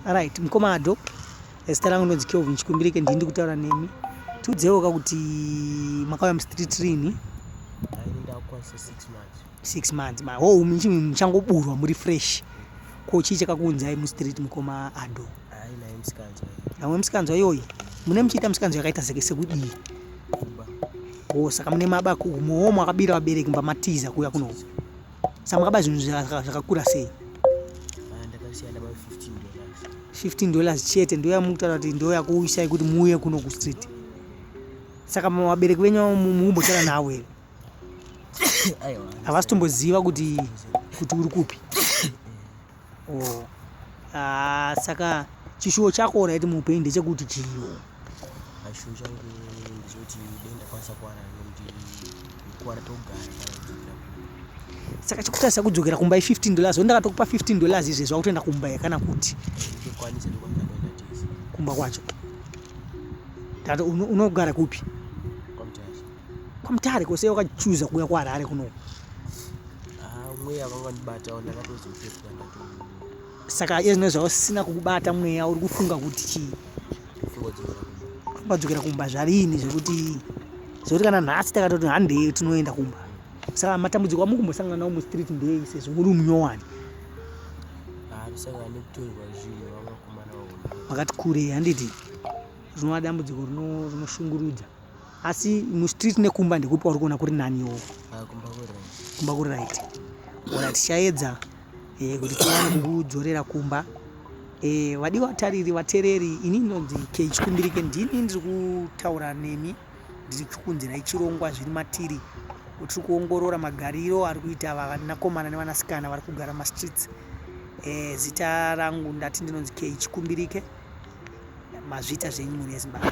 right mukoma ado zita rangu ndonzi kelvin chikumbirike ndii ndikutaura nemi tiudzeiwoka kuti makauya mustreet rini six months ma ho umi chii muchangoburwa muri fresh ko chii chakakuunzai mustreet mukoma ado namwe musikanzwa iyoyi mune muchiita musikanzwa yakaita seke sekudii o saka mune mabako umowo mwakabira vabereki mba matiza kuuya kuno samakaba zvinhu zvakakura sei 15 dollars chete ndo yamukutaura kuti ndo yakuuyisai kuti muuye kuno kustreet saka vabereki venyu muumbotaura navo here havasi tomboziva kuti kuti uri kupi oh. ah, saka chishuwo chako oraiti muupenyu ndechekuti chiyo ah, chishuwo changu ndechekuti dai ndakwanisa kuwana nekuti kuwara togara saka chikutarisa kudzokera kumba i15 dollars wendakatokupa 15 dollars izvezvi wakutoenda kumba yakana kuti kumba kwacho unogara kupi kwamutare kose wakachuza kuuya kuharare kuno ah, mweya vanga vandibatawo ndakatozopefuka ndato saka iye zvino zvausina kukubata mweya uri kufunga kuti chii kubadzokera kumba zvarini zvekuti zvekuti kana nhasi takatoti handei tinoenda kumba saka matambudziko amukumbosangana nawo mustreet ndei sezvo muri munyowani vakati kurei handiti rinova dambudziko rinoshungurudza asi mustreet nekumba ndekupi kwauri kuona kuri nani wo ah, kumba kuri right ora tichaedza eh, kuti tiwane kukudzorera kumba eh, vadi vatariri vatereri ini ndonzi kechikumbirike ndini ndiri kutaura nemi ndiri kukunzirai chirongwa zviri matiri tiri kuongorora magariro ari kuita vanakomana nevanasikana vari kugara mumastreets eh, zita rangu ndati ndinonzi kechikumbirike mazviita zvenyu mhuri yezimbabwe